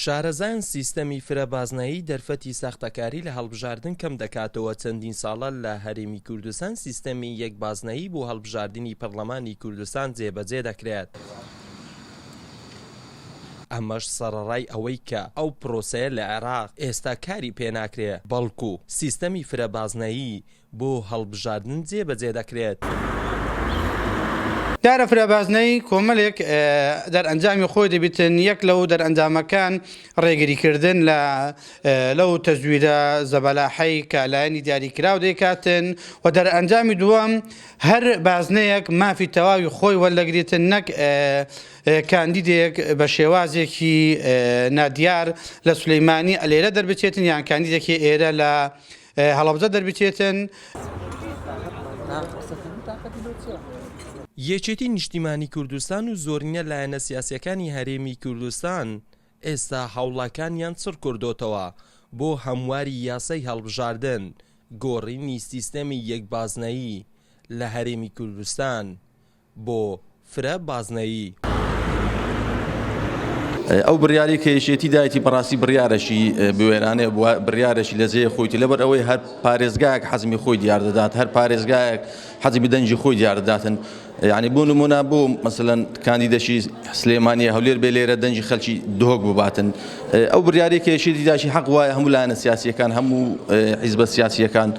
شارەزایان سیستەمی فرە بازنەیی دەرفەتی ساختەکاری لە هەڵبژاردن کەم دەکاتەوە چەندین ساڵە لە هەرێمی کوردستان سیستەمی یەک بازنەیی بۆ هەڵبژاردنی پەرلەمانی کوردستان جێبەجێ دەکرێت، ئەمەش سەڕەڕای ئەوەی کە ئەو پرۆسەیە لە عێراق ئێستا کاری پێناکرێت، بەڵکو سیستەمی فرە بازنەیی بۆ هەڵبژاردن جێ بەجێ دەکرێت. دیارە فرە بازنەی کۆمەلێک دەرئەنجامی خۆی دەبیتن یەک لەو دەرئەنجامەکان ڕێگری کردن لە لەو تەزویرە زەبەلاحەی کە لایەنی دیاری کراو دەیکاتن و دەرئەنجامی دووەم هەر بازنەیەک مافی تەواوی خۆی وەلدەگریتن نەک کاندیدێک بە شێوازێکی نادیار لە سلیمانی ئەلێرە دەربچێتن یان کاندیدێکی ئێرە لە هەڵەبجە دەربچێتن. یەکێتی نیشتیمانی کوردستان و زۆرینە لایەنە سیاسیەکانی هەرێمی کوردستان ئێستا هەوڵاکانیان چڕکردۆتەوە بۆ هەمواری یاسای هەڵبژاردن گۆڕینی سیستەمی یەک بازنەیی لە هەرێمی کوردستان بۆ فرە بازنەیی. ئەو بڕیارەی کە یەکێتی دایەتی بەڕاستی بڕیارەکی بوێرانەیە بوە بڕیارەکی لە جێ خۆیتی لەبەر ئەوەی هەر پارێزگایەک حەزمی خۆی دیار دەدات هەر پارێزگایەک حەزی بدەنجی خۆی دیار دەداتن یعنی بۆ نمونە بۆ مثلەن کاندیدەشی سلێمانیە هەولێر بێ لێرە دەنجی خەلکی دهۆک بباتن ئەو بریاری کێشی دیداشی حەق وایە هەموو لایەنە سیاسیەکان هەموو حیزبە سیاسیەکان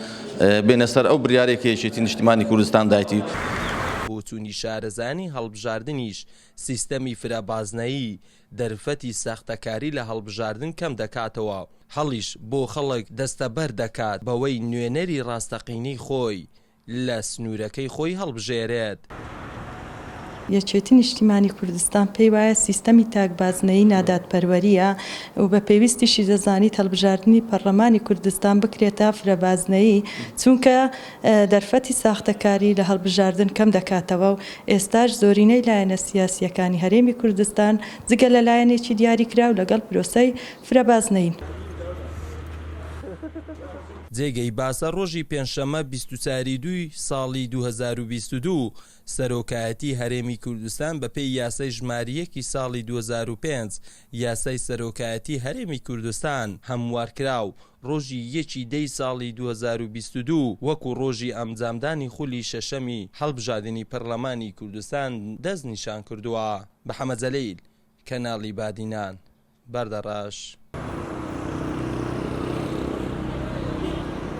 بێنە سەر ئەو بریارەی کە یەکێتی نیشتیمانی کوردستان دایتی. بۆچوونی شارەزایانی هەڵبژاردنیش سیستەمی فرە بازنەیی دەرفەتی ساختەکاری لە هەڵبژاردن کەم دەکاتەوە، هەڵیش بۆ خەڵک دەستەبەر دەکات بەوەی نوێنەری راستەقینەی خۆی لە سنوورەکەی خۆی هەڵبژێرێت. دەکات. یەکێتی نیشتیمانی کوردستان پێی وایە سیستەمی تاک بازنەیی نادادپەروەرییە و بە پێویستیشی دەزانیت هەڵبژاردنی پەڕڵەمانی کوردستان بکرێتە فرەبازنەیی، چونکە دەرفەتی ساختەکاری لە هەڵبژاردن کەم دەکاتەوە و ئێستاش زۆرینەی لایەنە سیاسییەکانی هەرێمی کوردستان جگە لە لایەنێکی دیاریکراو لەگەڵ پرۆسەی فرەبازنەیین. جێگەی باسە ڕۆژی پێنجشەممە بیست و چوار ی دووی ساڵی دوو هەزار و بیست و دوو سەرۆکایەتی هەرێمی کوردستان بەپێی یاسای ژمارە یەک ی ساڵی دوو هەزار و پێنج یاسای سەرۆکایەتی هەرێمی کوردستان هەموارکرا و ڕۆژی یەک ی دە ی ساڵی دوو هەزار و بیست و دوو وەکو ڕۆژی ئەمجامدانی خولی شەشەمی هەڵبژادنی پەرلەمانی کوردستان دەست نیشان کردووە. بەحەمە جەلیل، کەناڵی بادینان. بەردەڕەش.